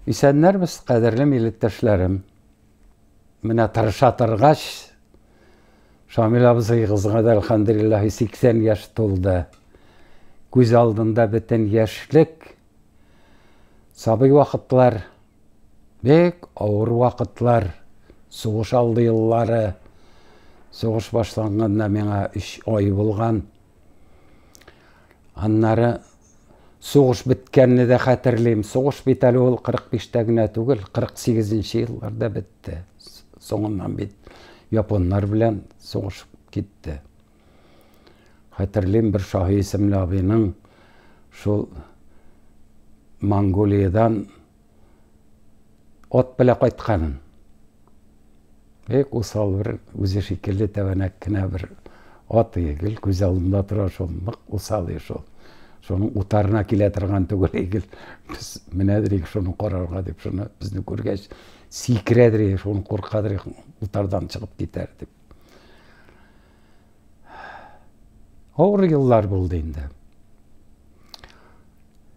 Исәннәрбез, кадерле милләттәшләрем. Менә тырыша торгач, Шамил абзыегызга да әлхәмдулиллаһи 80 яшь тулды. Күз алдында бөтен яшьлек, сабый вакытлар, бик авыр вакытлар, сугыш алды еллары. Сугыш башланганына миңа 3 ай булган. Аннары сугыш беткәнне дә хәтерлим. Сугыш бит әле ул 45-тә генә түгел, 48-нче елларда бетте. Соңыннан бит японнар белән сугыш китте. Хәтерлим бер Шаһи исемле абыйның шул Монголиядан ат белә кайтканын. Бик усал бер үзе шикелле тәбәнәк кенә бер ат ие, гел күз алдында тора шул, нык усал ие шул. Шуның утарына килә торган түгел, гел без менәдер ие шуны карарга дип, шуны безне күргәч сикерәдер ие, шуны куркадыр ие, утардан чыгып китәр дип. Авыр еллар булды инде.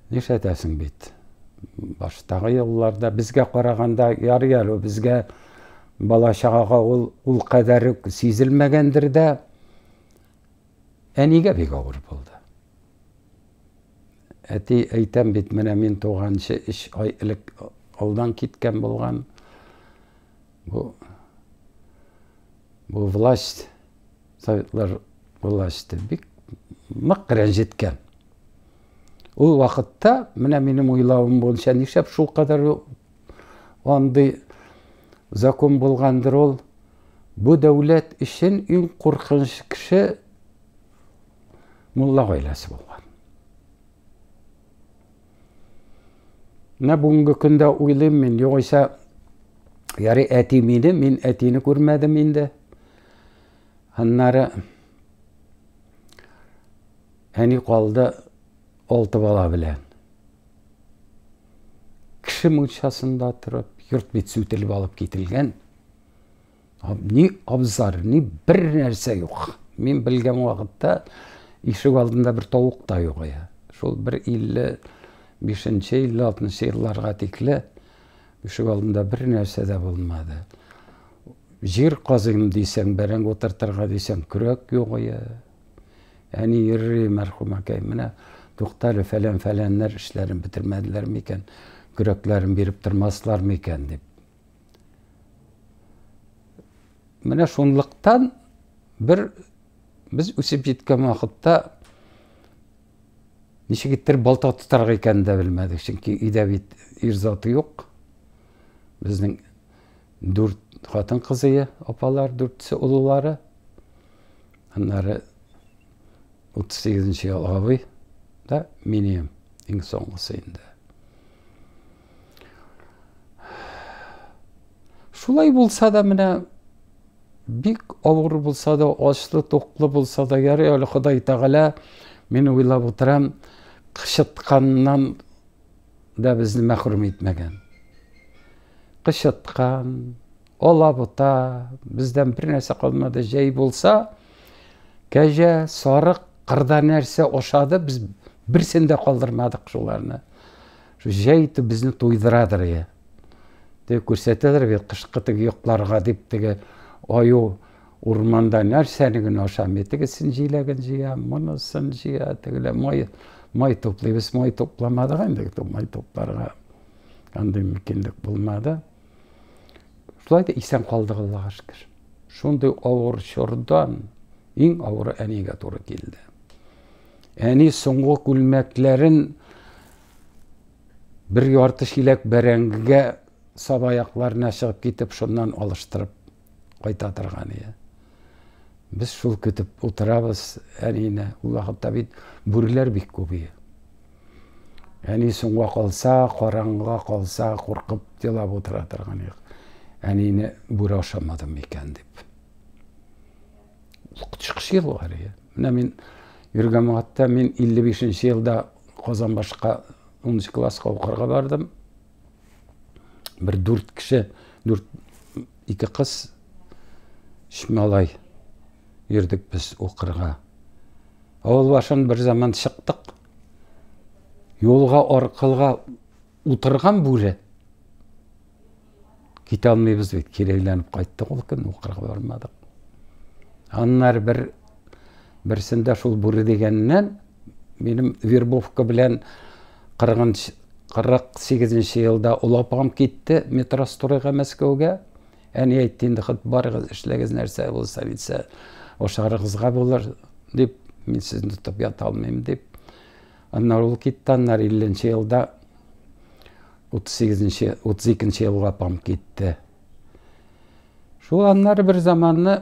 Нишләтәсең бит. Баштагы елларда безгә караганда ярый әле безгә бала чагага ул ул кадәр үк сизелмәгәндер дә. Әнигә бик авыр булды. Әти әйтәм бит, менә мин туганчы 3 ай элек алдан киткән булган. Бу бу власть советлар власте бик нык рәнҗеткән. Ул вакытта менә минем уйлавым буенча нишләп шул кадәр андый закон булгандыр ул. Бу дәүләт өчен иң куркыныч кеше мулла гаиләсе булган. Менә бүгенге көндә уйлыйм мин, югыйсә, яри әти мине, мин әтине күрмәдем инде. Аннары әни калды алты бала белән. Кеше мунчасында торып, йорт бит сүтелеп алып кителгән. Ни абзар, ни бер нәрсә юк. Мин белгән вакытта ишек алдында бер тавык та юк иде. Шул бер 55-нче, 56-нчы елларга тикле ишек алдында бер нәрсә дә булмады. Җир казыйм дисәң, бәрәңге утыртырга дисәң, көрәк юк иде. Әни йөрри мәрхүм әкәй, менә туктале фәлән-фәләннәр эшләрен бетермәделәр микән, көрәкләрен биреп тормаслар микән дип. Менә шунлыктан бер без үсеп җиткән вакытта ничек иттереп балта тотарга икәнен дә белмәдек. Чөнки өйдә бит ир заты юк. Безнең дүрт хатын кызые, апалар, дүртсе олылары. Аннары 38 нче ел абый да, минем иң соңгысы инде. Шулай булса да менә бик авыр булса да, ачлы, туклы булса да, ярый әле Ходай Тәгалә, мин уйлап утырам, кычытканнан да безне мәхрүм итмәгән. Кычыткан, алабута, бездән бер нәрсә калмады, җәй булса, кәҗә, сарык, кырда нәрсә ашады, без берсен дә калдырмадык шуларны. Шул җәй итеп безне туйдырадыр я. Теге күрсәтәдер бит кышкы теге йокларга дип теге аю урманда нәрсәне генә ашамый. Тегесен җиләген җыя, монысын җыя, тегелә май май туплыйбыз, май тупламадык инде, май тупларга андый мөмкинлек булмады. Шулай да исән калдык Аллага шөкер. Шундый авыр чордан иң авыры әнигә туры килде. Әни соңгы күлмәкләрен бер ярты чиләк бәрәңгегә саба якларына чыгып китеп, шуннан алыштырып кайта торган иде. Без шул көтеп утырабыз әнине. Ул вакытта бит бүреләр бик күп иде. Әни соңга калса, караңгыга калса, куркып елап утыра торган юк. Әнине бүре ашамадым икән дип. Чыгыш елы әле. Менә мин Юргамагатта мин 55 нче елда Казанбашка 10 класска укырга бардым. Бер дүрт кеше, дүрт ике кыз, өч малай йөрдек без укырга. Авыл башын бер заман чыктык. Юлга аркылга Утырган бүре. Китә алмыйбыз бит, кирәйләнеп кайттык ул көнне, укырга бармадык. Аннары бер берсендә шул бүре дигәннән минем вербовка белән 48 елда олы апам китте метростроега мәскәүгә әни әйтте инде хат барыгыз эшләгез нәрсә булса битсә ашарыгызга булыр дип мин сезне тотып ята алмыйм дип Аннары ул китте, аннары 50-нче елда 38-нче, 32-нче елга апам китте. Шул аннары бер заманны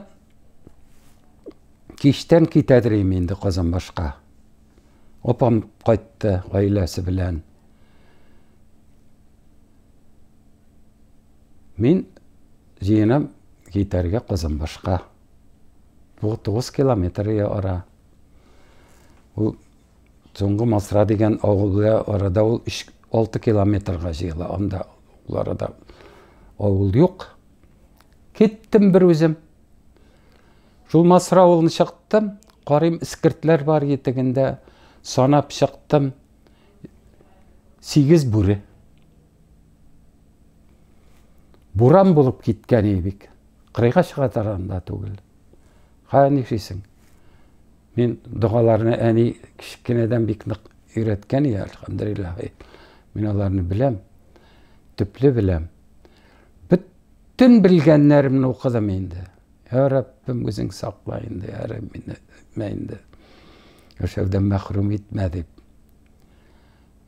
киштән китәдер инде Казанбашка. Апам кайтты гаиләсе белән. Мин җыенам китәргә Казанбашка. Бу 9 километр ара. Ул Соңгы Масра дигән авылга арада ул 6 километрга җыела. Анда ул арада авыл юк. Киттем бер үзем. Шул Масра авылын чыктым. Карыйм, искертләр бар етегендә. Санап чыктым. Сигез бүре. Буран булып киткән бик. Кырыйга чыга таранда түгел. Ха, нишисең? Мин догаларны әни кечкенәдән бик нык өйрәткән иде, әлхәмдулиллаһи. Мин аларны беләм. Төпле беләм. Бөтен белгәннәремне укыдым инде. Я Раббим, үзең сакла инде, я Раббим, инде. Яшәүдән мәхрүм итмә дип.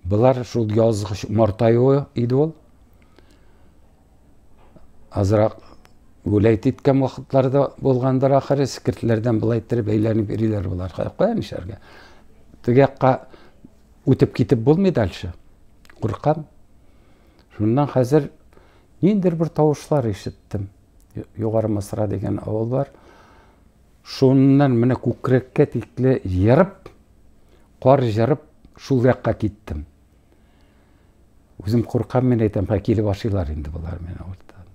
Болар шул язгы март аюы иде ул. Азрак гүләйт иткән вакытлары да булгандыр ахыр, скиртләрдән былай иттереп әйләнеп йөриләр болар. Кая нишләргә? Теге якка үтеп китеп булмый дальше. Куркам. Шуннан хәзер ниндер бер тавышлар ишеттем. Югары Масра дигән авыл бар. Шуннан менә күкрәккә тикле ерып, кар җырып, шул якка киттем. Үзем куркам мин әйтәм, ха килеп ашыйлар инде болар мені урттан.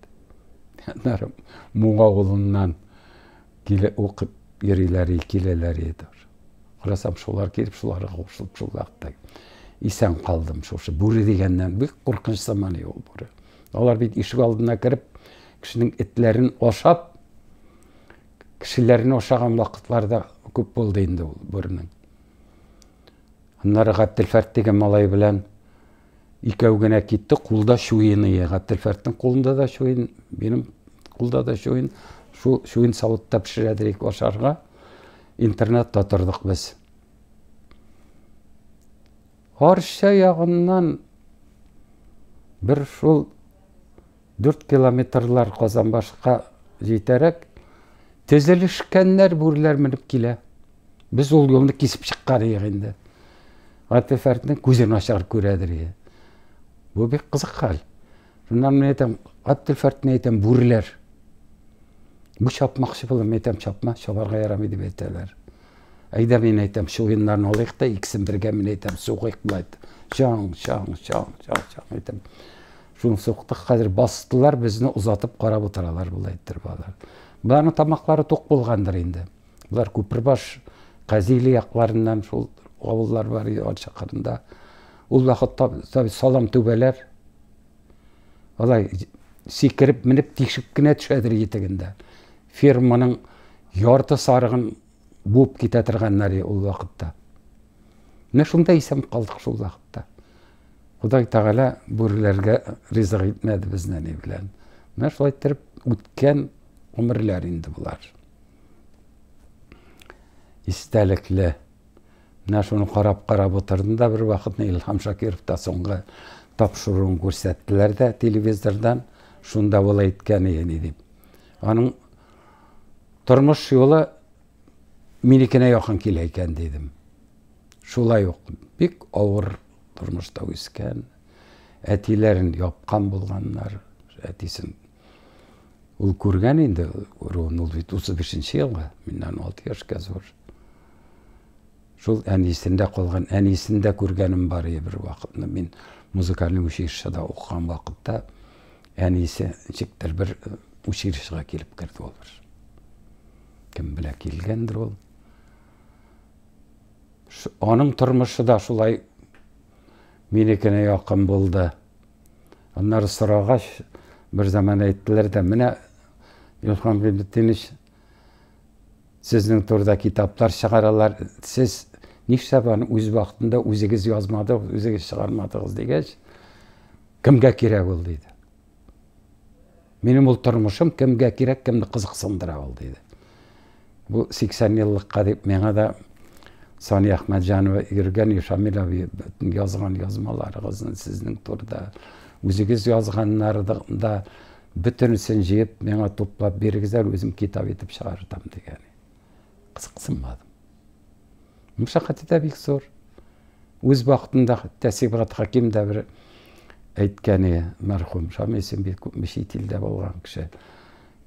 Аннары Муң авылыннан киле укып йөриләр, киләләр иде. Карасам, шулар килеп, шуларга кушылып, шул якта исән калдым шушы. Бүре дигәннән бик куркыныч заманы ул бүре. Алар бит ишек алдына кереп, кешенең этләрен ашап, кешеләрне ашаган вакытлары да күп булды инде ул бүренең. Аннары Габделфәрт дигән малай белән икәү генә китте, кулда чуен ие. Габделфәртнең кулында да чуен, минем кулда да чуен. Шул чуен савытта пешерәдерик ашарга. Интернетта тордык без. Арча ягыннан бер шул Дүрт километрлар Казанбашка җитәрәк, тезелешкәннәр бүреләр менеп килә. Без ул юлны кисеп чыккан идек инде. Гатифәрднең күзе начар күрә диргә. Бу бик кызык хәл. Шуннан мин әйтәм, Гатифәрдне әйтәм, бүреләр. Бу чапмакчы булыр, мин әйтәм, чапма, чабарга ярамый дип әйтәләр. Әйдә мин әйтәм, чуеннарны алыйк та, икесен бергә мин әйтәм, сугыйк булайт. Чаң, чаң, чаң, чаң, чаң әйтәм. Шуны суктык хәзер бастылар безне озатып карап утыралар болай иттереп алар. Боларның тамаклары тук булгандыр инде. Болар Күпербаш Казили якларыннан шул авыллар бар иде ат чакырында. Ул вакытта таби салам түбәләр. Алай сикереп менеп тишеп кенә төшәдер итегендә. Ферманың ярты сарыгын буып китә торган нари ул вакытта. Менә шунда исән калдык шул вакытта. Ходай Тәгалә бүреләргә ризык итмәде безне ни белән. Менә шулай иттереп үткән гомерләр инде болар. Истәлекле. Менә шуны карап-карап утырдым да бер вакытны Илһам Шакиров та соңгы тапшыруын күрсәттеләр дә телевизордан. Шунда ул әйткән иде дип. Аның тормыш юлы минекенә якын килә икән дидем. Шулай ук бик авыр тормышта үскән, әтиләрен япкан булганнар, әтисен ул күргән инде руын, ул бит 35-нче елга, миннән 6 яшькә зур. Шул әнисендә калган, әнисендә күргәнем бар иде бер вакытны. Мин музыкальный училищеда укыган вакытта әнисе ничектер бер училищега килеп керде ул бер. Кем белә килгәндер ул. Аның тормышы да шулай минекенә якын булды. Аннары сорагач, бер заман әйттеләр дә, менә Илхан Гыйбетдинович, сезнең турыда китаплар чыгаралар, сез нишләп аны үз вакытында үзегез язмадыгыз, үзегез чыгармадыгыз дигәч, Кемгә кирәк ул? диде. Минем ул тормышым кемгә кирәк, кемне кызыксындыра ул, диде. Бу 80 еллыкка дип миңа да Сания Әхмәтҗанова йөргән Ишамил абый язган язмаларыгызны сезнең турыда үзегез язганнарда да бөтенесен җыеп миңа туплап бирегезләр, үзем китап итеп чыгартам дигән. кызыксынмадым мәшәкате дә бик зур үз вакытында хәтта сибгат хәким дә бер әйткәне мәрхүм шамисын бик күпме чит илдә булган кеше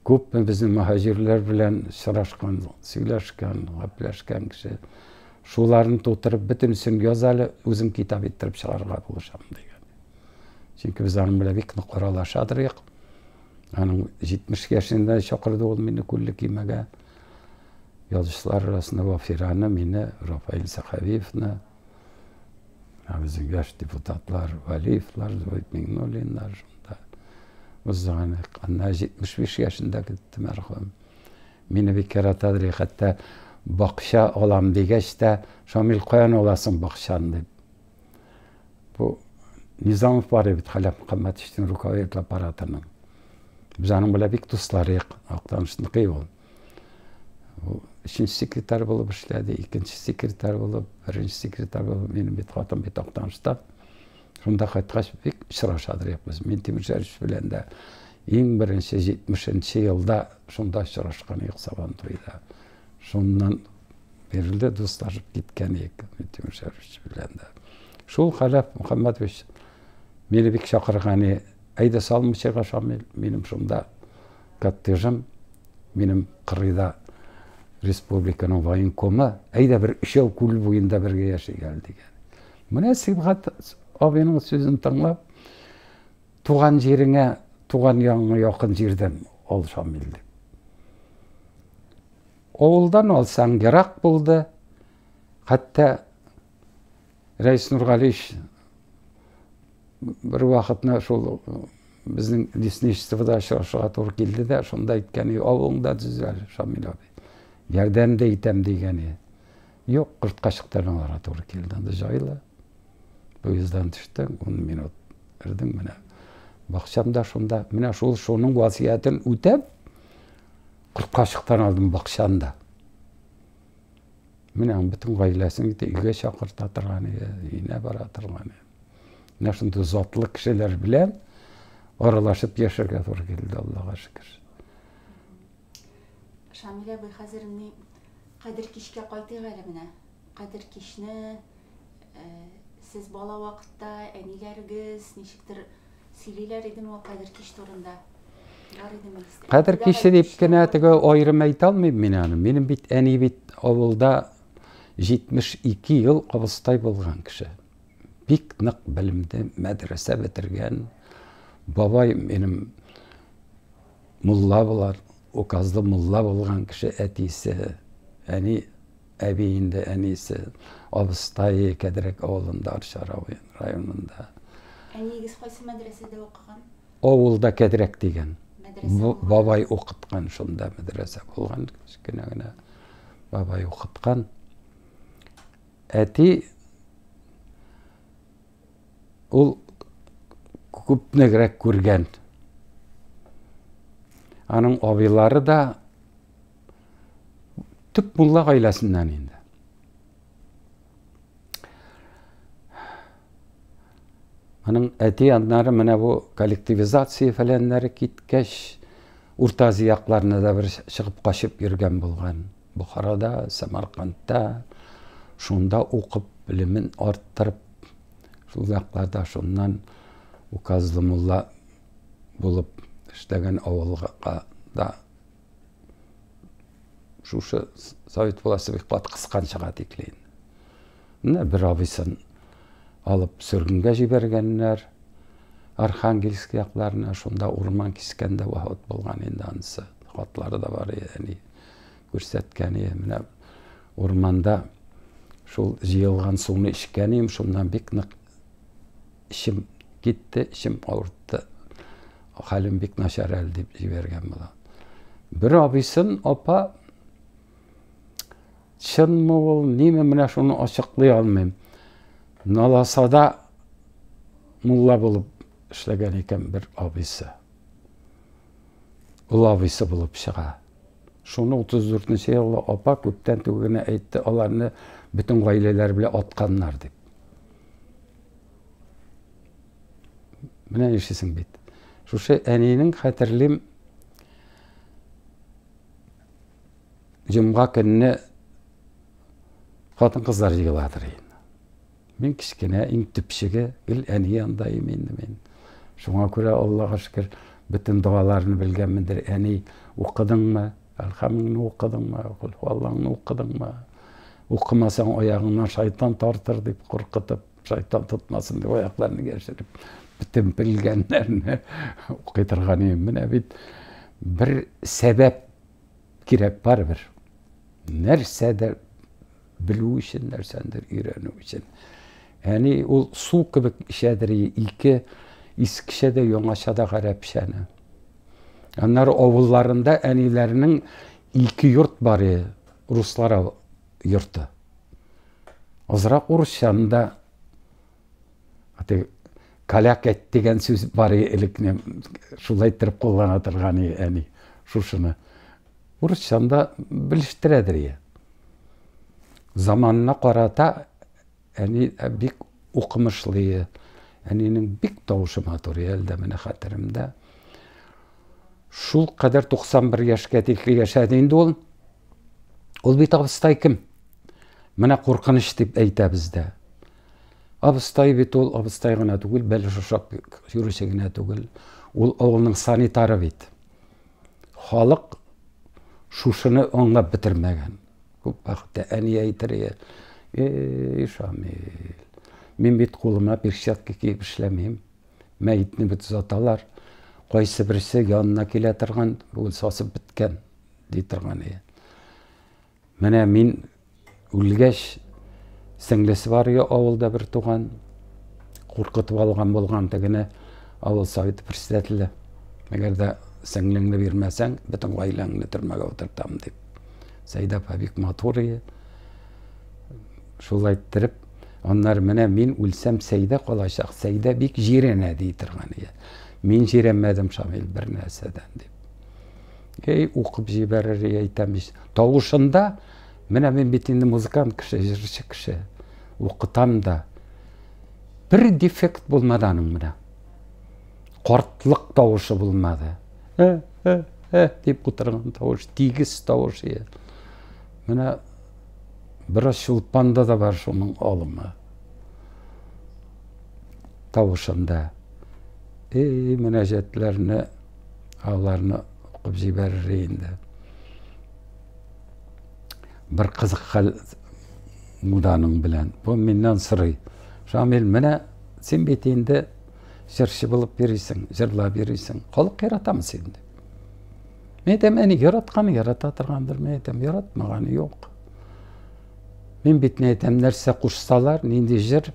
күпме безнең мөһаҗирләр белән очрашкан сөйләшкән гәпләшкән кеше шуларны тутырып бөтенесен яз әле үзем китап иттереп чыгарырга булышам дигән чөнки без аның белән бик нык аралашадыр Аның 70 яшендә чакырды ул мине күлле кимәгә. Язучылар арасында Вафираны, мине, Рафаил Сахавиевны, ә безнең яшь депутатлар Валиевлар, Зоид Мигнуллиннар шунда. Узган анда 75 яшендә китте мәрхүм. Мине бик яратадыр, хәтта бакча алам дигәч тә, Шамил каян аласың бакчаны дип. Бу Низамов бар бит Халәп Мөхәммәтовичның руководит аппаратының. Без аның белән бик дусларык, актанышныкый ул. Ул өченче секретарь булып эшләде, икенче секретарь булып, беренче секретарь булып, минем бит хатын бит актанышта. Шунда кайткач бик очрашадык без. Мин Тимершәлевич белән дә иң беренче 70 елда шунда очрашкан идек Сабантуйда. Шуннан бирле дуслашып киткән идек Минтимер Шәрифович белән дә. Шул Хәләф Мөхәммәтович мине бик чакырган иде. Әйдә Салмычыга Шамил, минем шунда коттеджым, минем кырыйда республиканың военкомы, әйдә бер өчәү күл буенда бергә яши гәл дигән. Менә Сибгат абыйның сүзен тыңлап, Туган җиреңә, туган ягыңа якын җирдән ал, Шамил, дип. Авылдан алсаң, ерак булды. Хәтта Рәис Нургалич бер вакытны шул безнең лесничествода очрашырга туры килде дә, шунда әйткән, авылыңда төзәл, Шамил абый. Ярдәм дә итәм дигән. Юк, кортка чыктырмаларга туры килде. Анда җайлы. Поезддан төштем, ун минут кердем менә. Бакчам да шунда. Менә шул шуның васыятен үтәп, кортка чыктан алдым бакчаны да. Менә бөтен гаиләсен итә, өйгә чакырта торган иде, өенә бара торган иде. Менә шундый затлы кешеләр белән аралашып яшәргә туры килде, Аллага шөкер. Шамилә абый, хәзер ни Кадер кичкә кайтыйк әле менә. Кадер кичне э, сез бала вакытта әниләрегез ничектер сөйлиләр идеме ул Кадер кич турында? Бар идеме искә? Кадер киче дип кенә теге аерым әйтә алмыйм мин аны. Минем бит әни бит авылда 72 ел абыстай булган кеше. Бик нык белемле, мәдрәсә бетергән. Бабай минем Мулла болар, указлы мулла булган кеше әтисе, әни, әби инде әнисе, абыстае Кәдрәк авылында, Арча районында. Әниегез кайсы мәдрәсәдә укыган? Авылда Кәдрәк дигән. Бабай укыткан шунда мәдрәсә булган, кечкенә генә бабай укыткан. Әти Ул күпнегрәк күргән. Аның абыйлары да төп мулла гаиләсеннән инде. Аның әти аннары менә бу коллективизация фәләннәре киткәч, Урта Азиякларына да бер чыгып качып йөргән булган. Бухарада, Самаркандта, шунда укып, белемен арттырып, шул якларда шуннан указлы мулла булып эшләгән авылга да шушы совет власте бик кат кысканчыга тикле менә бер абыйсын алып сөргенгә җибәргәннәр архангельск якларына шунда урман кискәндә вафат булган инде анысы хатлары да бар әни Күрсәткәне, менә урманда шул җыелган суны эчкән идем, шуннан бик нык эчем китте, эчем авыртты. Хәлем бик начар әле дип җибәргән була. Бер абыйсын апа чынмы ул, ниме менә шуны ачыклый алмыйм. Наласада мулла булып эшләгән икән бер абыйсы. Ул абыйсы булып чыга. Шуны 34 нче еллы апа күптән түгел генә әйтте, аларны бөтен гаиләләре белән атканнар дип. Менә ишесең бит. Шушы әнинең хәтерлим җомга көнне хатын-кызлар җыеладыр инде. Мин кечкенә, иң төпчеге, гел әни янында имин мин. Шуңа күрә, Аллага шөкер, бөтен догаларны белгәнмендер. Әни, укыдыңмы? Әлхәмеңне укыдыңмы? Кулхуаллаңны укыдыңмы? Укымасаң, аягыңнан шайтан тартыр, дип куркытып, шайтан тотмасын дип, аякларны яшереп, бөтен белгәннәрне укый торган идем. Менә бит бер сәбәп кирәк барыбер. Нәрсәдер Белү өчен, нәрсәндер өйрәнү өчен. Әни ул су кебек эчәдер ике искечә дә яңача да гарәпчәне. Аннары авылларында әниләрнең ике йорт бар иде, руслар йорты. Азрак урысчаны да каляк әйт дигән сүз бар иде элекне, шулай иттереп куллана торган иде әни шушыны. Урысчаны да белештерәдер я. Заманына карата әни бик укымышлы. Әнинең бик тавышы матур, әле дә менә хәтеремдә. Шул кадәр 91 яшькә тикле яшәде инде ул. Ул бит абыстай кем? Менә куркыныч дип әйтә бездә. Абыстай бит ул абыстай гына түгел, бәлеш ашап йөрүче генә түгел. Ул авылның санитары бит. Халык шушыны аңлап бетермәгән. Күп вакытта әни әйтер иде, "Эй, Шамил, мин бит кулыма перчатка киеп эшләмим. Мәетне бит озаталар. Кайсы берсе янына килә торган, ул сасып беткән", ди торган иде. Менә мин үлгәч, сеңлесе бар иде авылда бер туган. Куркытып алган булган тегене авыл советы председателе. Әгәр дә сеңлеңне бирмәсәң, бөтен гаиләңне төрмәгә утыртам дип. Сәйдә апа бик матур иде. Шулай иттереп, аннары менә мин үлсәм, Сәйдә калачак. Сәйдә бик җирәнә ди торган иде. Мин җирәнмәдем, Шамил, бер нәрсәдән дип. Ей, укып җибәрер әйтәм ич. Тавышында, менә мин бит инде музыкант кеше, җырчы кеше. Укытам да. Бер дефект булмады аның менә. Картлык тавышы булмады. Э, э, э, дип утырган тавыш, тигез тавыш. Менә бераз чулпанда да бар шуның алымы. Тавышында. Эй, мөнәҗәтләрне аларны укып җибәрер инде бер кызык хәл муданың белән бу миннән сорый шамил менә син бит инде җырчы булып йөрисең җырлап йөрисең халык яратамы син дип мен әйтәм әни яратканы ярата торгандыр мен әйтәм яратмаганы юк мин бит не әйтәм нәрсә кушсалар нинди җыр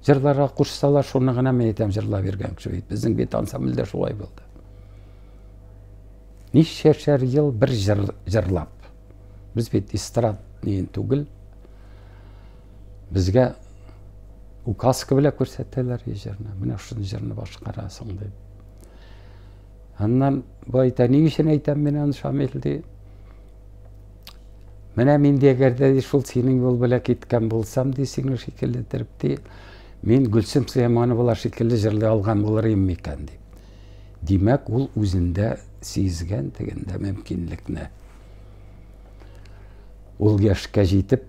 Җырларга кушсалар, шуны гына мин әйтәм, җырлап йөргән кеше бит. Безнең бит ансамбльдә шулай булды. Ничәшәр ел бер җыр, җырлап. Без бит эстрад дигән түгел. Безгә указка белән күрсәтәләр җырны. Менә шуны җырны башкарасың дип. Аннан бу әйтә, ни өчен әйтәм мин аны Шамил ди. Менә мин дә әгәр дә шул синең юл белән киткән булсам, ди, синең шикелле иттереп, ди, мин Гөлсем Сөләймановалар шикелле җырлый алган булыр идем микән, ди. Димәк, ул үзендә сизгән дигәндә мөмкинлекне. Ул яшькә җитеп,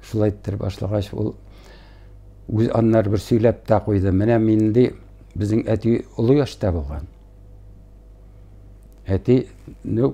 шулай иттереп башлагач, ул үз аннары бер сөйләп тә куйды. Менә мин ди, безнең әти олы яшьтә булган. Әти, ну,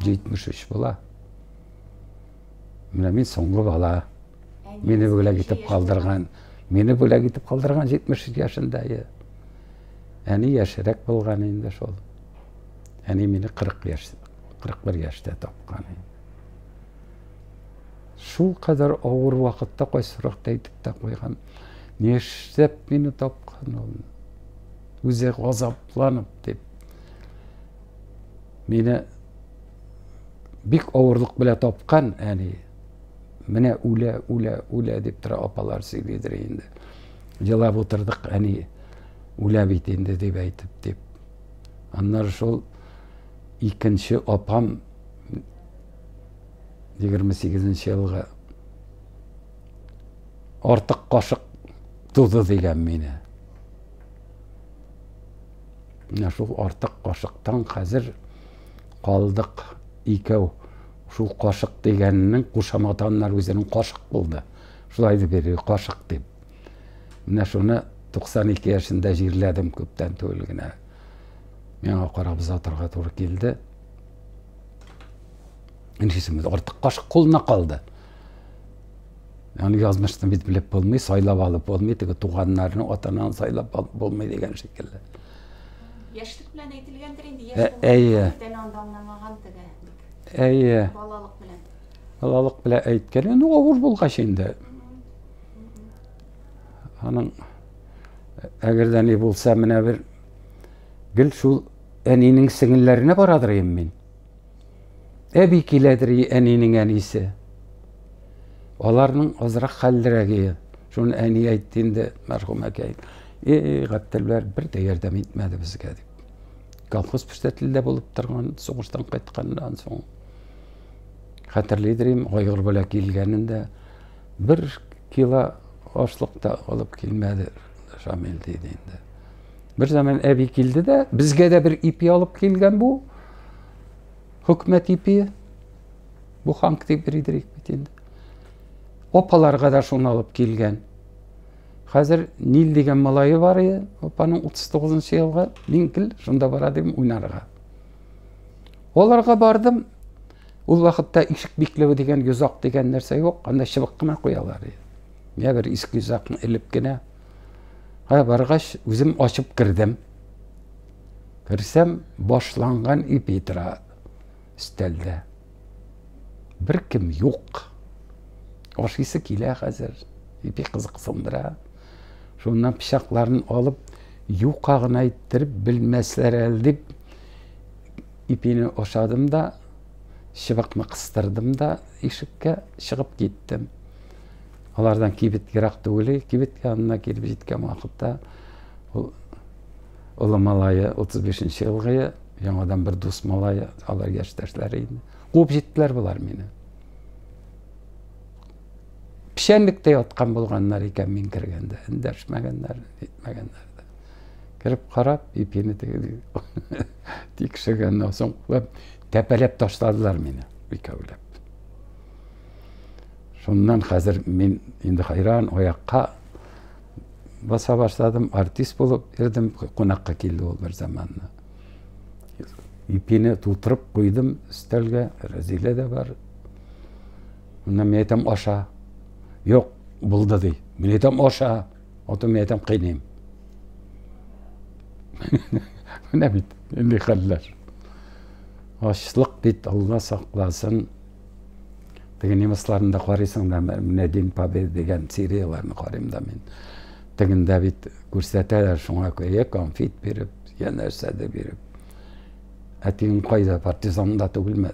73 була. Менә мин соңгы бала. Мине бүләк итеп калдырган. Мине бүләк итеп калдырган 73 яшендә. Әни яшерәк булган инде шул. Әни мине 40 яш, 41 яшьтә тапкан. Шул кадәр авыр вакытта кайсыракта әйтеп тә куйган. Нишләп мине тапкан ул? Үзе газапланып дип мине бик авырлык белә тапкан әни менә үлә үлә үлә дип тора апалар сөйлидер инде елап утырдык әни үлә бит инде дип әйтеп дип аннары шул икенче апам егерме сигезенче елгы артык кашык туды дигән мине Менә шул артык кашыктан хәзер калдык икәү. Шул кашык дигәннең кушаматаннар үзенең кашык булды. Шулай дип йөри, кашык дип. Менә шуны 92 яшендә җирләдем күптән түгел генә. Миңа карап озатырга туры килде. Иншисемез артык кашык кулына калды. Аны язмышны бит белеп булмый, сайлап алып булмый, теге туганнарны, атананы сайлап алып булмый дигән шикелле. Яшьлек белән әйтелгәндер инде, яшь ә, әйе. анда аңламаган теге. Әйе. Балалык белән. Балалык белән әйткән, ну авыр булгач инде. Аның әгәр дә ни булса, менә бер гел шул әнинең сеңелләренә барадыр мин. Әби киләдер әнинең әнисе. Аларның азрак хәллерәге. Шуны әни әйтте инде, мәрхүм әкәй. Эй, Гәптелбәр бер дә ярдәм итмәде безгә дип. Колхоз председателендә булып торган, сугыштан кайтканнан соң хәтерлидер инде, айгыр белән килгәнендә бер кило ашлык та алып килмәде Шамил диде инде. Бер заман әби килде дә, безгә дә бер ипи алып килгән бу. Хөкмәт ипи. Бу ханк дип бирдерик бит инде. Апаларга да шуны алып килгән. Хәзер Нил дигән малае бар иде, апаның 39-нчы елгы, мин кил, шунда бара дим уйнарга. Оларга бардым. Ул вакытта ишек бикләве дигән йозак дигән нәрсә юк, анда чыбык кына куялар иде. Менә бер иске йозакны элеп кенә Ә баргач, үзем ачып кердем. Керсәм, башланган ипи тора өстәлдә. Бер кем юк. Ашыйсы килә хәзер. Ипи кызыксындыра. Шуннан пычакларын алып, юка гына иттереп белмәсләр әле дип, ипине ашадым да, чыбыкны кыстырдым да ишеккә чыгып киттем. Алардан кибет ерак түгел, кибет янына килеп җиткән вакытта ул олы малае 35 елгы яңадан бер дус малае алар яшьтәшләре инде. Куып җиттеләр болар мине. Печәнлектә яткан булганнар икән мин кергәндә, эндәшмәгәннәр, әйтмәгәннәр кереп карап ипине тикшергәннән соң тәпәләп ташладылар мине икәүләп Шуннан хәзер мин инде хайран аякка баса башладым, артист булып йөрдем, кунакка килде ул бер заманны. Ипине тутырып куйдым өстәлгә, Рәзилә дә бар. Моннан мин әйтәм аша. Юк, булды ди. Мин әйтәм аша, ото мин әйтәм кыйныйм. Менә бит, инде хәлләр. Ачлык бит, Алла сакласын. Теге немецларны да карыйсың да, менә День Победы дигән серияләрне карыйм да мин. Тегендә бит күрсәтәләр шуңа күрә, конфет биреп, я нәрсәдер биреп. Ә тегең кайда, партизан да түгелме?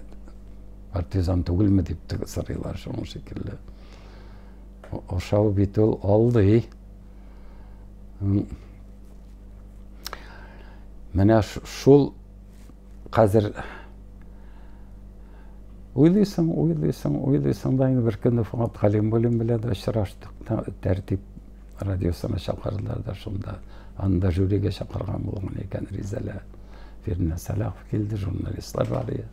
Партизан түгелме дип теге сорыйлар шуның шикелле. Ашау бит ул алдый. Менә шул Хәзер уйлыйсың, уйлыйсың, уйлыйсың да инде беркөнне Фуат Галимуллин белән дә очраштык. Тәртип радиосына чакырдылар да шунда. Анда жюрига чакырган булган икән Ризәлә Фирнә Сәлахов килде, журналистлар бар иде.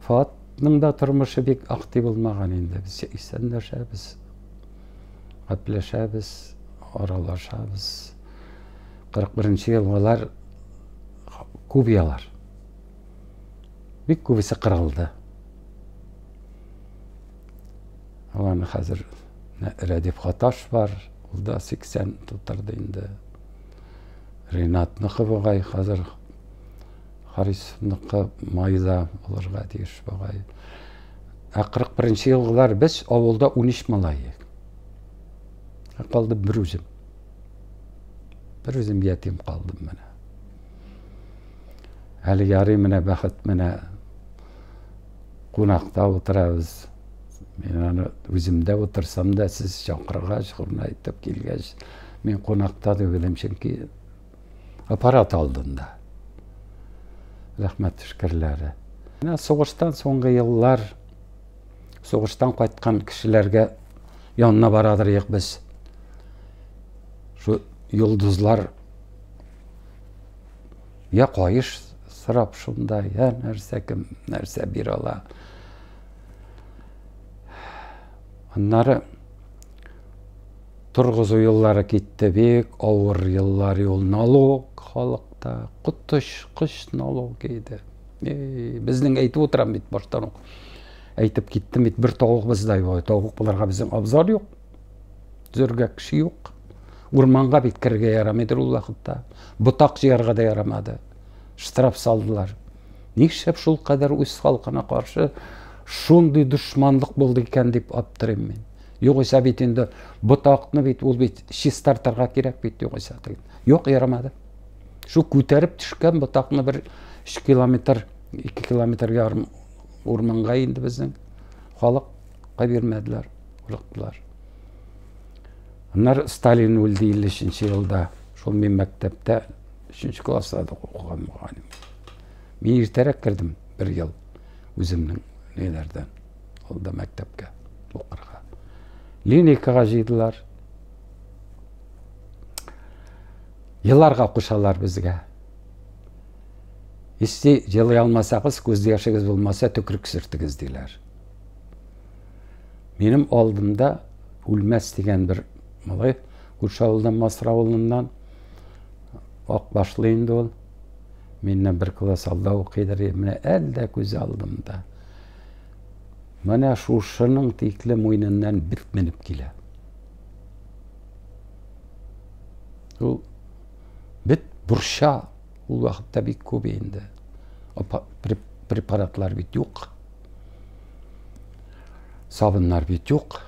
Фуатның да тормышы бик актив булмаган инде. Без исәнләшәбез, гәпләшәбез, аралашабыз. 41-нче елгалар кубиялар. Бик күбесе кырылды. Аларны хәзер Рәдиф Хаташ бар, ул да 80 тутырды инде. Ренат Нөхыбыгай хәзер Харисовныкы майда булырга тиеш бугай. Ә 41-нче елгылар без авылда 13 малай. Ә калды бер үзем. Бер үзем ятим калдым менә. Әле ярый менә бәхет менә кунакта утырабыз. Мин аны үземдә утырсам да сез чакыргач, шуны әйтеп килгәч, мин кунакта түгелем, чөнки аппарат алдында. Рәхмәт шүкерләре. Менә сугыштан соңгы еллар Сугыштан кайткан кешеләргә янына барадыр ек без. Шу йолдызлар я каеш сорап шунда, я нәрсә кем нәрсә бир ала. Аннары торгызу еллары китте бик авыр еллар юл налог халыкта котыш кыш налог иде. Безнең әйтеп утырам бит баштан ук. Әйтеп киттем бит, бер тавык бездә юк. Тавык буларга безнең абзар юк. Зөргә кеше юк. Урманга бит керергә ярамыйдыр ул вакытта. Ботак җыярга да ярамады. Штраф салдылар. Нишләп шул кадәр үз халкына каршы шундый дошманлык булды икән дип аптырыйм мин. Югыйсә бит инде ботакны бит ул бит чистартырга кирәк бит югыйсә. Юк, ярамады. Шул күтәреп төшкән ботакны бер 3 километр, 2 километр ярым урманга инде безнең халык бирмәделәр, курыктылар. Аннар Сталин үлде 53 елда. Шул мин мәктәптә 3 класста укыган мөгаллим. Мин иртәрәк кердем бер ел үземнең ниләрдән. Ул да мәктәпкә укырга. Линейкага җыйдылар. Еларга кушалар безгә. Исти, елый алмасагыз, күз яшегез булмаса, төкрек сөртегез, диләр. Минем алдымда үлмәс дигән бер малай, күрше авылдан, Масыр авылыннан, ак башлы инде ул. Миннән бер класс алда укыйдыр, менә әлдә күз алдымда. Менә шушының тикле муйныннан бит менеп килә. Ул бит бурча ул вакытта бик күп инде. Препаратлар бит юк. Сабыннар бит юк.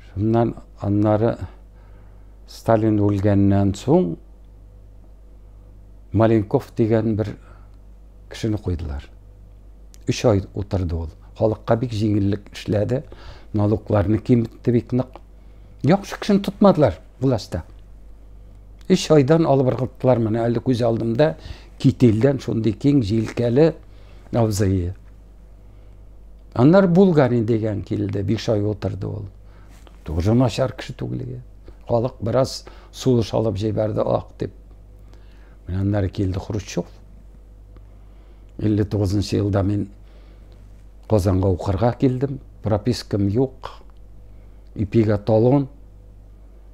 Шуннан аннары Сталин үлгәннән соң Маленков дигән бер Кешене куйдылар. Өч ай утырды ул. Халыкка бик җиңеллек эшләде. Налогларны киметте бик нык. Яхшы кешене тотмадылар властьта. Өч айдан алып ыргыттылар. Менә әле күз алдымда кителдән шундый киң җилкәле абзые. Аннар Булгарин дигән килде. Биш ай утырды ул. Тоже начар кеше түгел иде. Халык бераз сулыш алып җибәрде, ак дип. Менә аннары килде Хрущев. Илле тугызынчы елда мин Казанга укырга килдем. Пропискам юк. Ипига талон.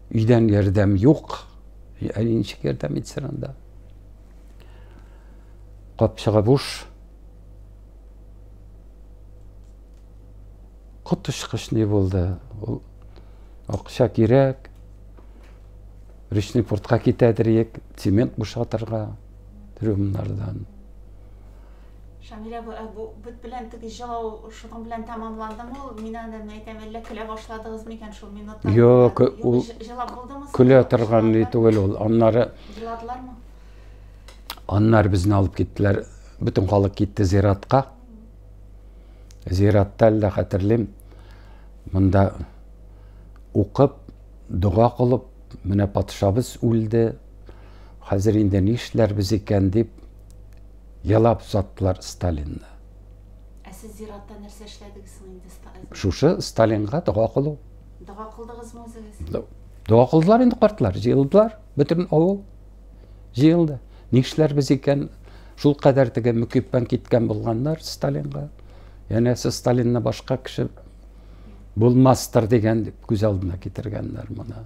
Өйдән ярдәм юк. Әле ничек ярдәм итсен анда? Капчыгы буш. Коточкыч ни булды? Ул акча кирәк. Речный портка китәдер, цемент бушатырга. трюмнардан. Шамил абы, ә бу бит белән теге җылау шуның белән тәмамландымы ул? Мин аны әйтәм, әллә көлә башладыгыз микән шул минутта? Юк, ул җылап булдымы? Көлә торган ни түгел ул. Аннары Җыладылармы? Аннар безне алып киттеләр. Бөтен халык китте зиратка. Зиратта әллә хәтерлим. Монда укып, дога кылып, менә патшабыз үлде, Хәзер инде нишләрбез икән дип елап озаттылар Сталинны. Ә сез зиратта нәрсә эшләдегез соң инде Сталин? Шушы Сталинга дога кылу. Дога кылдыгызмы үзегез? Дога кылдылар инде картлар, җыелдылар, бөтен авыл җыелды. Нишләрбез икән? Шул кадәр теге мөкиббән киткән булганнар Сталинга. Янәсе Сталинны башка кеше булмастыр дигән күз алдына китергәннәр моны.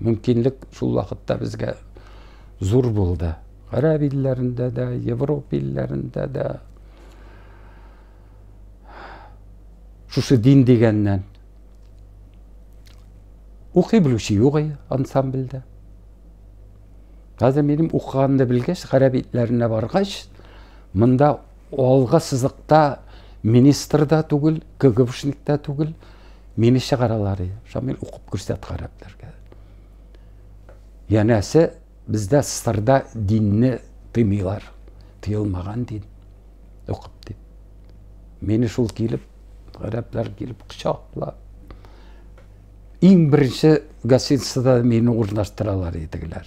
мөмкинлек шул вакытта безгә зур булды. Гарәп илләрендә дә, Европа илләрендә дә шушы дин дигәннән укый белүче юк ансамбльдә. Хәзер минем укыганны белгәч, гарәп итләренә баргач, монда Алгы сызыкта министр да түгел, КГБшник та түгел, мине чыгаралар. Шамил укып күрсәт гарәпләргә. Янәсе бездә сырда динне тыймыйлар. Тыелмаган дин. Укып дип. Мине шул килеп, гарәпләр килеп кочаклап. Иң беренче гостиницада мине урнаштыралар идегеләр.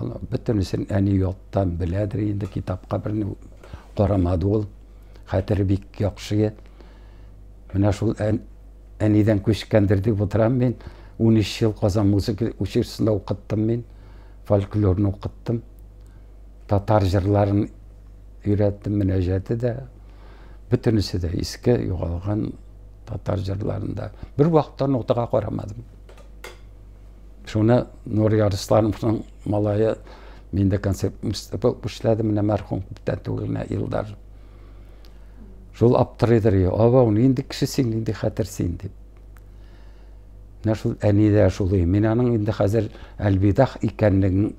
Аны бөтенесен әни яттан беләдер инде, китапка берни карамады ул. Хәтере бик яхшы иде. Менә шул әнидән күчкәндер дип утырам мин. 13 ел Казан музыка училищесында укыттым мин. Фольклорны укыттым. Татар җырларын өйрәттем, мөнәҗәте дә. Бөтенесе дә иске, югалган татар җырларында. Бер вакытта нотага карамадым. Шуны Нур Ярыслановның малае мин дә концерт булып эшләдем, менә мәрхүм күптән түгел генә елдар. Шул аптырыйдыр, абау, нинди кеше син, нинди хәтер син дип. Менә шул әни дә шул, мин аның инде хәзер Әлбидах икәнлеген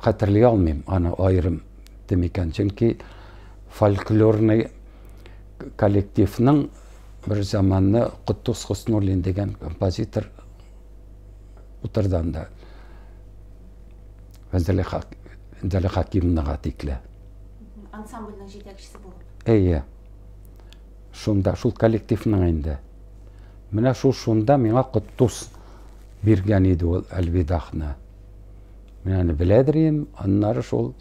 хәтерли алмыйм, аны аерым дим икән, чөнки фольклорный коллективның Бер заманны Котдус Хуснурлин дигән композитор утырды анда. Вәндәле Хакимнага тикле. Ансамбльның җитәкчесе булып. Әйе. Шунда, шул коллективның инде. Менә шул шунда миңа Котдус биргән иде ул Әлвидахны. Менә аны беләдер идем, аннары шул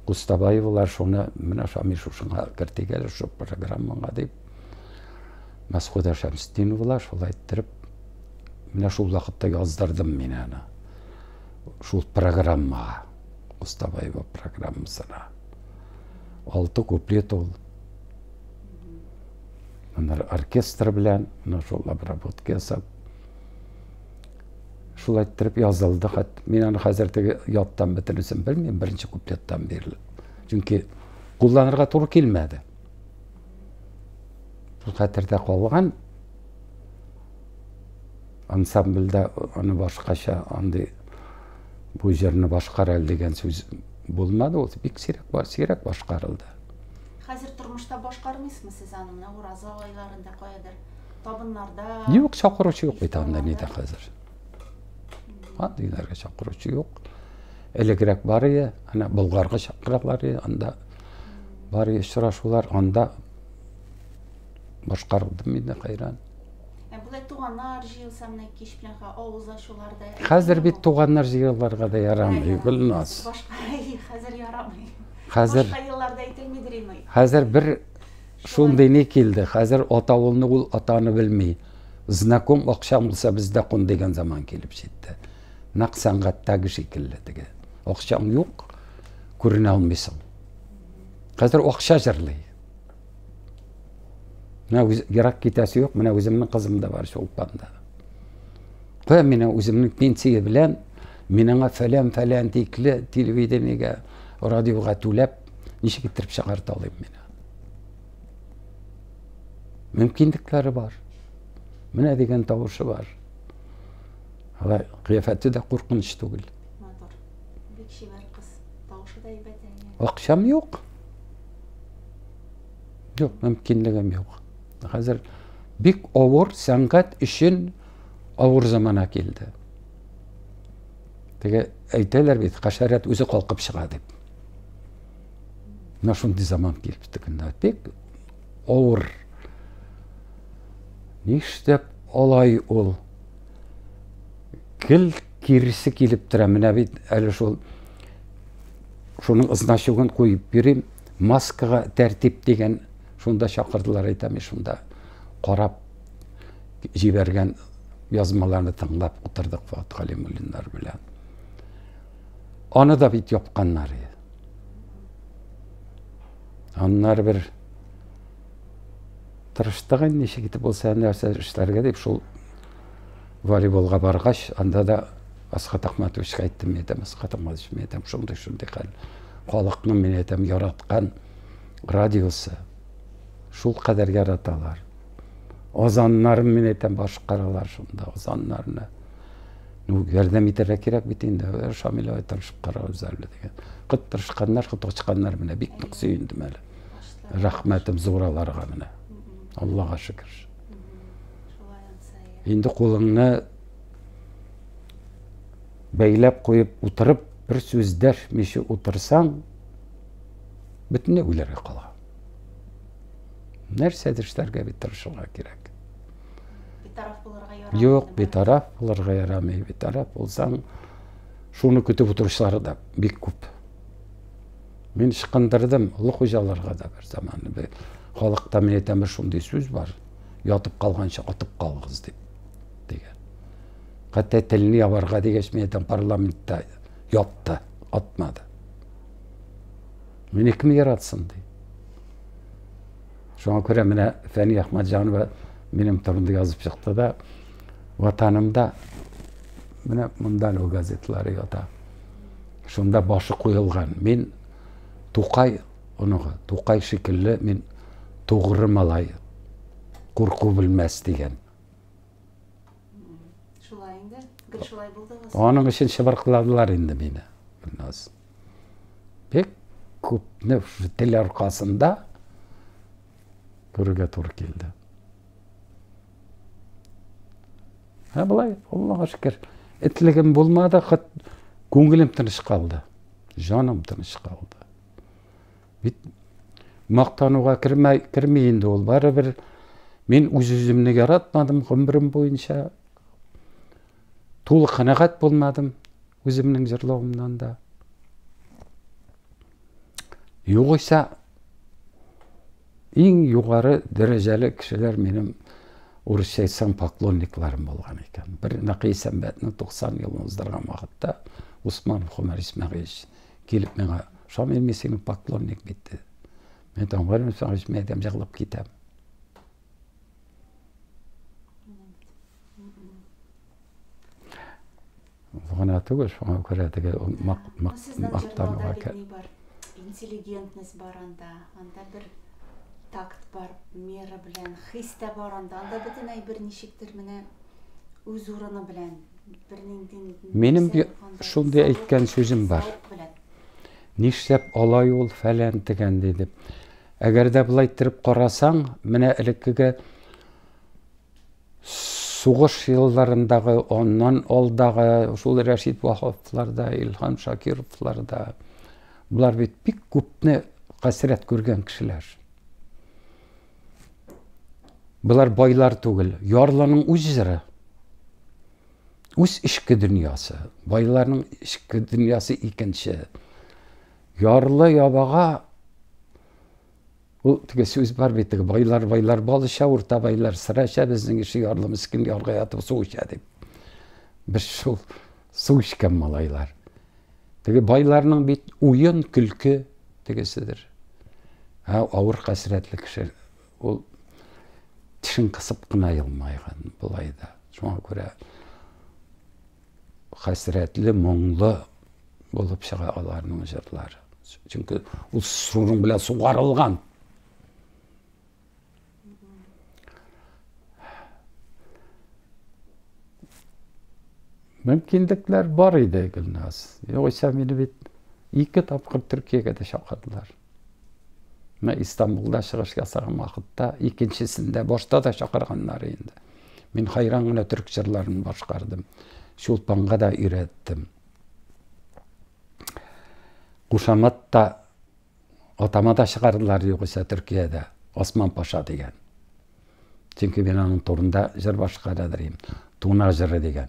Кустабаевлар шуны менә Шамил шушыңа кертик әле шул программаңа дип. Мәсхүдә Шәмстиновлар шулай иттереп менә шул вакытта яздырдым мин аны. Шул программага, Кустабаева программасына. Алты куплет ул. Аннары оркестр белән, менә шул обработка ясап, Шулай иттереп язылды хат. Мин аны хәзер теге яттан бөтенесен белмим, беренче куплеттан бирле. Чөнки кулланырга туры килмәде. Шул хәтердә калган. Ансамбльдә аны башкача андый бу җырны башкар әле дигән сүз булмады. Ул бик сирәк, сирәк башкарылды. Хәзер тормышта башкармыйсызмы сез аны? Менә Ураза айларында каядыр табыннарда Юк, чакыручы юк бит анда нидә хәзер. Андый нәргә чакыручы юк. Элегрәк бар ие, ана Болгарга чакыралар ие, анда бар ие очрашулар, анда башкарылды мин дә хәйран. Ә булай туганнар җыелса менә кич белән авыз ачуларда. Хәзер бит туганнар җыелырга да ярамый, Гөлназ. Башка хәзер ярамый. Хәзер башка елларда әйтелмидер инде. Хәзер бер Шундый ни килде, хәзер атавылны ул атаны белми. Знаком акчаң булса бездә кун дигән заман килеп җитте. Нәкъ сәнгатьтәге шикелле теге. Акчаң юк, күренә алмыйсың. Хәзер акча җырлый. Менә үз, ерак китәсе юк, менә үземнең кызым да бар Чулпанда. Кая менә үземнең пенсия белән мин аңа фәлән-фәлән тикле телевидениегә, радиога түләп, ничек иттереп чыгарта алыйм мин? мөмкинлекләре бар. Менә дигән тавышы бар. Алай кыяфәте дә куркыныч түгел. Матур. Бик шибәр кыз. Тавышы да әйбәт әйе. Акчам юк. Юк, мөмкинлегем юк. Хәзер бик авыр сәнгать өчен авыр замана килде. Теге әйтәләр бит, хәшәрәт үзе калкып чыга дип. мына шундый заман килеп текенде бик авыр нишләп алай ул гел киресе килеп тора менә бит әле шул шуның значогын куеп бирим маскага тәртип дигән шунда чакырдылар әйтәме шунда карап җибәргән язмаларны тыңлап утырдык фат галимуллиннар белән аны да бит япканнар Аннар бер тырыштык инде ничек итеп булса нәрсә эшләргә дип шул волейболга баргач, анда да Асхат Ахматовичка әйттем, мин әйтәм, Асхат Ахматович, мин әйтәм, шундый шундый хәл. Халыкның мин әйтәм яраткан радиосы шул кадәр яраталар. азаннарын мин әйтәм башкаралар шунда азаннарны ну ярдәм итәргә кирәк бит инде э, шамил ай тырышып карагыз әле дигән кыт тырышканнар кыт ачканнар менә бик нык сөендем әле рәхмәтем зур аларга менә аллага шөкер инде кулыңны бәйләп куеп утырып бер сүз дәшмичә утырсаң бөтенләй уйларга кала нәрсәдер эшләргә бит тырышырга кирәк битараф булырга ярамый юк битараф булырга ярамый битараф булсаң шуны көтеп утыручылар да бик күп мин ышкындырдым олы хуҗаларга да бер заман халыкта мин әйтәм шундый сүз бар ятып калганча атып калыгыз дип дигән хәтта телен ябарга дигәч мин әйтәм парламентта ятты атмады Мине кем яратсын, ди. Шуңа күрә менә Фәни Әхмәтҗанова минем турында язып чыкты да, ватанымда менә монда нәү газеталары ята. Шунда башы куелган. Мин Тукай оныгы, Тукай шикелле мин тугры малай. Курку белмәс дигән. Шулай инде. Гел шулай булдыгыз. Аның өчен чыбыркыладылар инде мине. Гөлназ. Бик күпне тел аркасында күрергә туры килде. Ә былай, Аллаһка шөкер, этлегем булмады, хат күңелем тыныч калды. Җаным тыныч калды. Бит мактануга кермәй, керми инде ул барыбер. Мин үз үземне яратмадым гомерем буенча. Тулы канәгать булмадым. Үземнең җырлавымнан да. Югыйсә, иң югары дәрәҗәле кешеләр минем урысча әйтсәң поклонникларым булган икән. Бер Нәкый Сәмбәтнең 90 елын уздырган вакытта Усман Хомар Исмәгыйлевич килеп миңа, Шамил, мин синең поклонник бит диде. Мин там Гомар Исмәгыйлевич, мин әйтәм, җырлап китәм. гына түгел шуңа күрә теге мактануга интеллигентность бар анда анда бер такт бар мера белән хис тә бар анда анда бөтенләй бер ничектер менә үз урыны белән бернинди минем шундый әйткән сүзем бар нишләп алай ул фәлән дигән диде әгәр дә былай иттереп карасаң менә элеккеге сугыш елларындагы, аннан алдагы шул Рәшит Ваһаповлар да, Илһам Шакировлар да, болар бит бик күпне хәсрәт күргән кешеләр. Болар байлар түгел, ярлының үз җыры. Үз эчке дөньясы, байларның эчке дөньясы икенче. Ярлы ябага Ул теге сүз бар бит, теге байлар, байлар бал эчә, урта байлар сыра эчә, безнең ише ярлы мескин ярга ятып су эчә дип. Без шул су эчкән малайлар. Теге байларның бит уен, көлке тегесидер. Ә авыр хәсрәтле кеше ул тешен кысып кына елмайган болай да. Шуңа күрә хәсрәтле, моңлы булып чыга аларның җырлары. Чөнки ул шуның белән сугарылган. Мөмкинлекләр бар иде, Гөлназ. Югыйсә мине бит ике тапкыр Төркиягә дә чакырдылар. Менә Истанбулда чыгыш ясаган вакытта икенчесендә башта да чакырганнар инде. Мин хайран гына төрк җырларын башкардым. Чулпанга да өйрәттем. Кушамат та атама да чыгардылар югыйсә Төркиядә. Осман Паша дигән. Чөнки мин аның турында җыр башкарыр идем. Туна җыры дигән.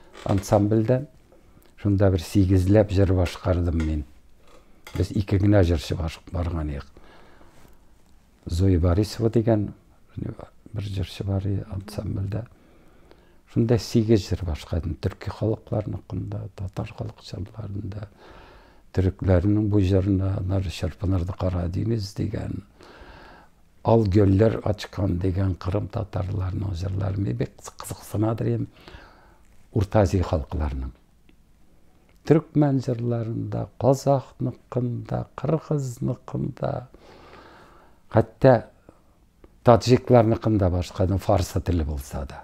Ансамбльдә шунда бер сигезләп җыр башкардым мин. Без ике генә җырчы барган идек. Зоя Борисова дигән бер җырчы бар иде ансамбльдә. Шунда сигез җыр башкардым. Төрки халыкларныкында, татар халык җырларында, төрекләрнең бу җырына, Чырпынырды кара диңгез дигән Ал гөлләр ачкан дигән кырым татарларының җырлары мине бик кызыксына дим. Урта Азия халыкларының төркмән җырларында, казахныкында, кыргызныкында, хәтта таджикларныкында башканың фарсы теле булса да.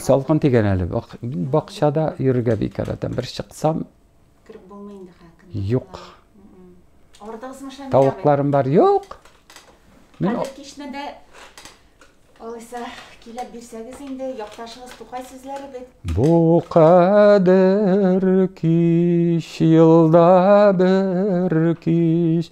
Салкын тигән әле. Бакчада йөрергә бик яратам. Бер чыксам, кереп булмый инде хәким. Юк. Ардыгызмы шәмдә? Тавыкларым бар. Юк. Мин Хәзер кичне дә алайса килеп бирсәгез инде, якташыгыз Тукай сүзләре бит. Бу кадәр кич елда бер кич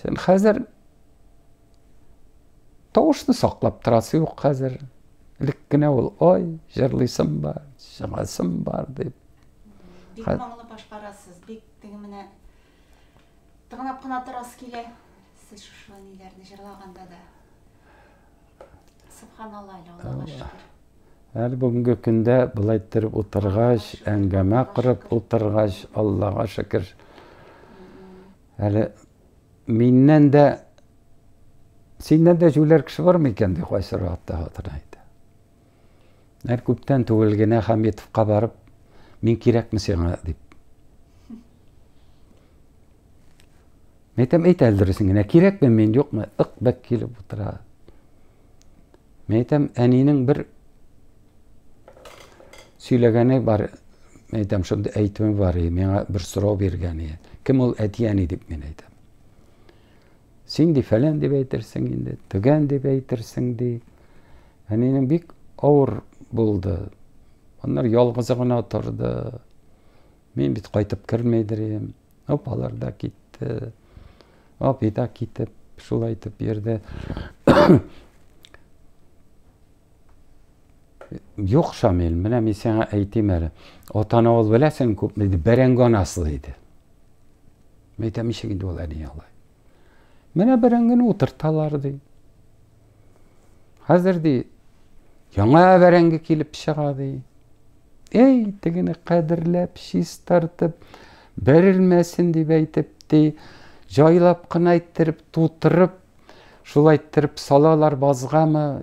Сен хәзер тавышны саклап торасы юк хәзер. Элек кенә ул ой, җырлыйсым бар, чыгасым бар дип. Бик моңлы башкарасыз, бик теге менә тыңлап кына торасы килә. Сез шушы ниләрне җырлаганда да. Субханалла, Аллаһуга шөкер. Әле бүгенге көндә былай торып утыргач, әңгәмә корып утыргач, Аллага шөкер. Әле миннән дә синнән дә җүләр кеше бармы икән ди кайсы рәттә хатына әйтә. Әр күптән түгел генә Хәмитовка барып, мин кирәкме сиңа дип. Мәйтәм әйт әле дөресен генә, кирәкме мин, юкмы, ык бәк килеп утыра. Мәйтәм әнинең бер сөйләгәне бар, мәйтәм шундый әйтүе бар, миңа бер сорау биргәне. Кем ул әти әни дип мин әйтәм. Син ди фәлән дип әйтерсең инде, төгән дип әйтерсең ди. Әнинең бик авыр булды. Аннар ялгызы гына торды. Мин бит кайтып кермейдер идем. Апалар да китте. Апи да китеп, шулай итеп йөрде. Юк, Шамил, менә мин сиңа әйтим әле. Атаны ул беләсең күпме? Бәрәңге анасы диде. Мин әйтәм, ничек инде ул әни алай? Менә берән генә утырталар, ди. Хәзер, ди, яңа бәрәңге килеп чыга, ди. Әй, тегене кадерләп, чистартып, бәрелмәсен дип әйтеп, ди, җайлап кына әйттереп, тутырып, шулай иттереп салалар базгамы,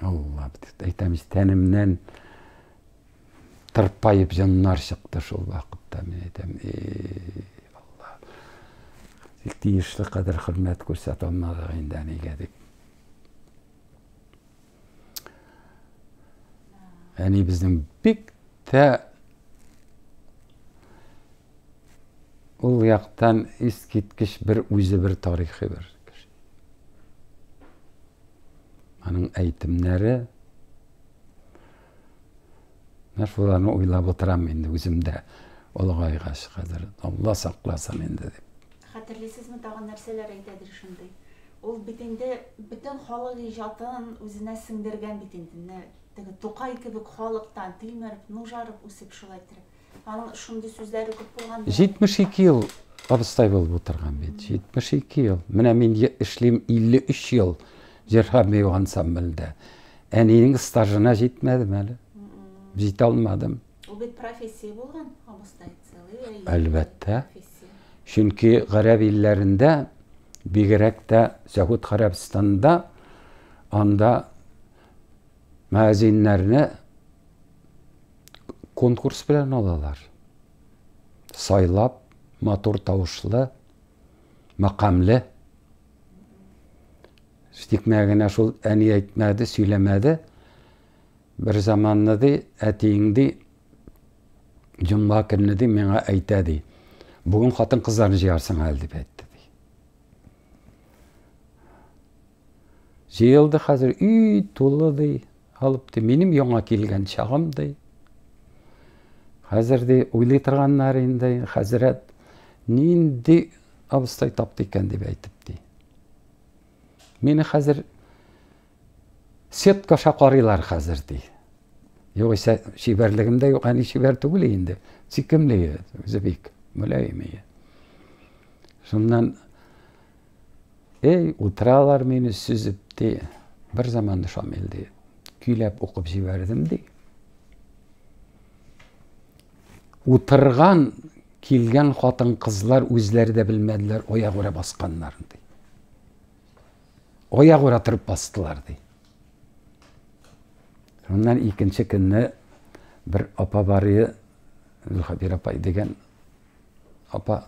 Алла, әйтәмез, тәнемнән тырпайып җаннар чыкты шул вакытта, мин әйтәм, и Алла. Тик тиешле кадәр хөрмәт күрсәтә алмадык инде әнигә дип. Әни безнең бик тә Ул яктан искиткеч бер үзе бер тарихи бер кеше. Аның әйтемнәре Менә шуларны уйлап утырам инде үземдә олыгайгач хәзер. Алла сакласын инде дип. Хәтерлисезме, тагын нәрсәләр әйтәдер шундый? Ул бит инде бөтен халык иҗатын үзенә сеңдергән бит инде. Менә теге Тукай кебек халыктан тилмереп, нужарып үсеп шулай иттереп. Аның шундый сүзләре күп булган. 72 ел абыстай булып утырган бит. 72 ел. Менә мин эшлим 53 ел Җирхам бию ансамбльдә. Әниенең стажына җитмәдем әле. Җитә алмадым. Ул бит профессия булган, абыстай целый. Әлбәттә. Чөнки гарәп илләрендә, бигрәк тә Сәгуд Гарәбстанда анда мәзиннәрне конкурс белән алалар. Сайлап, матур тавышлы, мәкамле. Тикмә генә шул әни әйтмәде, сөйләмәде. Бер заманны ди, әтиең ди, җомга көнне ди, миңа әйтә ди. Бүген хатын-кызларны җыярсың әле дип әйтте ди. Җыелды хәзер өй тулы ди, алып ди, минем яңа килгән чагым ди. Хәзер ди уйлый торганнар инде, хәзрәт нинди абыстай тапты икән дип әйтеп ди. Мине хәзер Сетка аша карыйлар хәзер, ди. Югыйсә чибәрлегем дә юк, әни чибәр түгел инде. Сикемле үзе бик, мөлаем ие. Шуннан эй, утыралар мине сүзеп, ди. Бер заманны Шамил ди. Көйләп укып җибәрдем, ди. Утырган килгән хатын-кызлар үзләре дә белмәделәр, аягүрә басканнар, ди. Аяк ура торып бастылар, ди. Шуннан икенче көнне бер апа барые, Зөлхәбир апай дигән апа,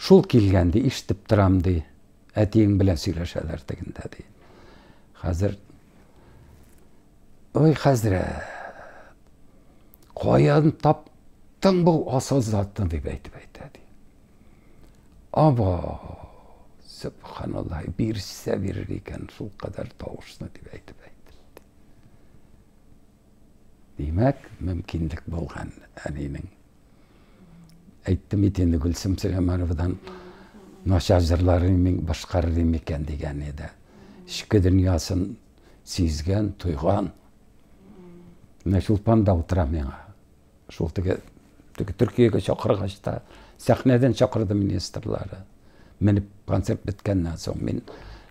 шул килгән, ди, ишетеп торам, ди, әтиең белән сөйләшәләр тегендә, ди. Хәзер, ой, хәзрәт, каян тап Тың бұл асыл заттан деп айтып айтады Ава! Сөбханаллаһ, бирсә бирер икән шул кадәр тавышны дип әйтеп әйтте. Димәк, мөмкинлек булган әнинең. Әйттем бит инде Гөлсем Сөләймановадан начар җырларын мин башкарыр икән дигән иде. Эчке дөньясын сизгән, тойган. Менә Чулпан да утыра миңа. Шул теге теге Төркиягә чакыргач та сәхнәдән чакырды министрлары. Менеп концерт беткәннән соң мин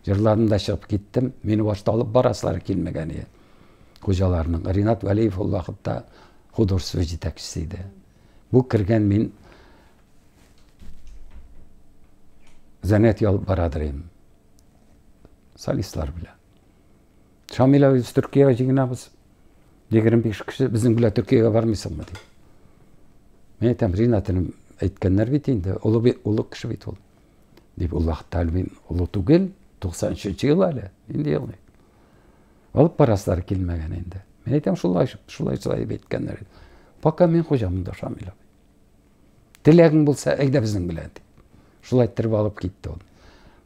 җырларым да чыгып киттем. Мине башта алып барасылары килмәгән иде. Хуҗаларның Ринат Вәлиев ул вакытта художество җитәкчесе иде. Бу кергән мин занятие алып барадыр идем. Солистлар белән. Шамилә үз Төркиягә җыгынабыз. 25 кеше безнең белән Төркиягә бармыйсыңмы ди. Мин әйтәм, Ринатым әйткәннәр бит инде, олы бит, олы кеше бит ул. Дип Аллаһ Тәгалә мин олы түгел, 93 ел әле, инде елмый. Алып барасылар килмәгән инде. Мин әйтәм, шулай, шулай, шулай әйткәннәр. Пока мин хуҗамын да Шамилә. Теләгең булса, әйдә безнең белән. Шулай иттереп алып китте ул.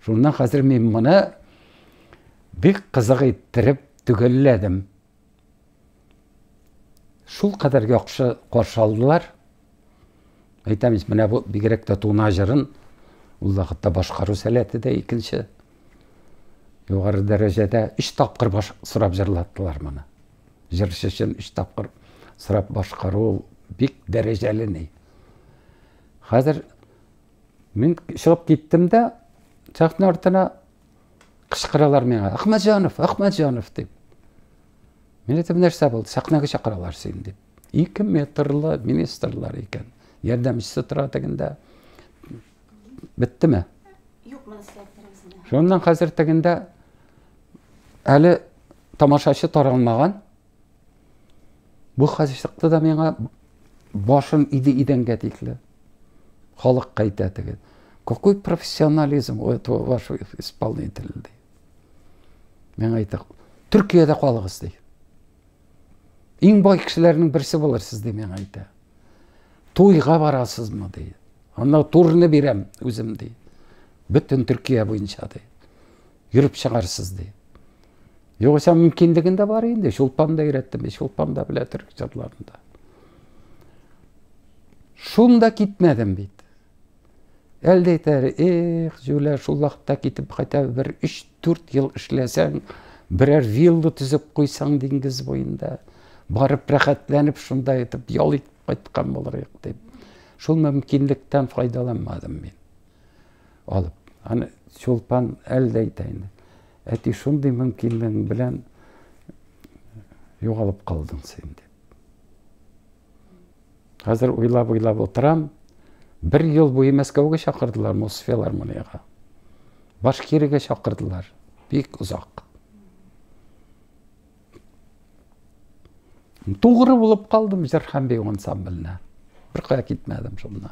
Шуннан хәзер мин моны бик кызык иттереп төгәлләдем. Шул кадәр яхшы каршы алдылар. Әйтәмез, менә бу бигрәк тә туна җырын ул вакытта башкару сәләте дә икенче югары дәрәҗәдә өч тапкыр баш сорап җырлаттылар моны. Җырчы өчен өч тапкыр сорап башкару ул бик дәрәҗәле ни. Хәзер мин чыгып киттем дә, сәхнә артына кычкыралар миңа, Ахмәтҗанов, Ахмәтҗанов дип. Мин әйтәм, нәрсә булды, сәхнәгә чакыралар син дип. Ике метрлы министрлар икән. Ярдәмчесе тора тегендә, Беттеме? Юк, моны эшләп берәүсенә. Шуннан хәзер тегендә әле тамашачы таралмаган. Бу хәзер чыкты да миңа башым иде идәнгә тикле. Халык кайтә теге. Какой профессионализм у этого вашего исполнителя? Миңа әйтә, Төркиядә калыгыз, ди. Иң бай кешеләрнең берсе булырсыз дип миңа әйтә. Туйга барасызмы ди. Анда турны бирәм үзем ди. Бөтен Төркия буенча ди. Йөреп чыгарсыз ди. Югыйсә мөмкинлеген дә бар инде. Чулпан да өйрәттем, Чулпан да белә төрек җырларын да. Шунда китмәдем бит. Әлдә әйтәр, эх, Зюлә, шул вакытта китеп хотя бы бер 3-4 ел эшләсәң, берәр вилла төзеп куйсаң диңгез буенда, барып рәхәтләнеп шунда итеп ял итеп кайткан булыр идек дип. Шул мөмкинлектән файдаланмадым мин. Алып, аны Чулпан әлдә әйтә инде. Әти шундый мөмкинлең белән югалып калдың син дип. Хәзер уйлап-уйлап утырам, бер ел буе Мәскәүгә чакырдылар Мосфилармониягә. Башкиригә чакырдылар. Бик озак. Тугры булып калдым Җырханбек ансамбленә. Беркая китмәдем шуннан.